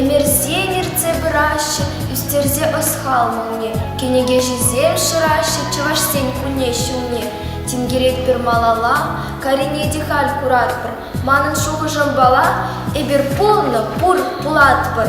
Ӗмӗрсен ертсе пыраҫҫӗ, ӳстерсе ӑсхал молне. Кӗнекеҫӗсем шыраҫҫӗ чӑвашсен кулне ҫумне. Тинкеретпӗр малалла, карине те халь куратпӑр. Манӑн шухӑшӑмпала эпир пулнӑ пур пулатпӑр.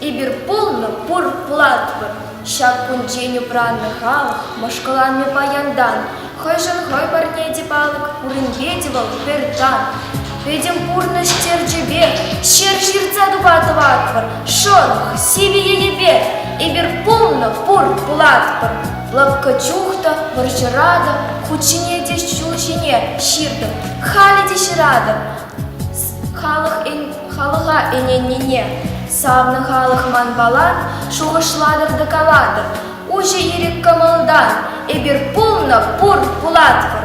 Эпир пулнӑ пур платва. Ҫак кунччен упраннӑ халӑх мӑшкӑланнӑ паянтан. Хӑйшӗн хӑй парне те палӑк, пуринке те вӑл пӗр тан. Пӗтӗм пурнӑҫ терчӗпе ҫӗр ҫыртса тупа тӑватпӑр, шӑрӑх сивӗ енӗпе. Эпир пулнӑ пур платпӑр. Лӑпкӑ чух та вӑрҫӑра та хут ҫине те ҫул ҫине ҫыртӑп, халӗ те ҫыратӑп. Халӑх эн Халӑха ӗненнине савнӑ халӑх манпалан шухӑшлатӑр та калатӑр, уҫӑ ирӗк кӑмӑлтан эпир пулнӑ пур пулатпӑр.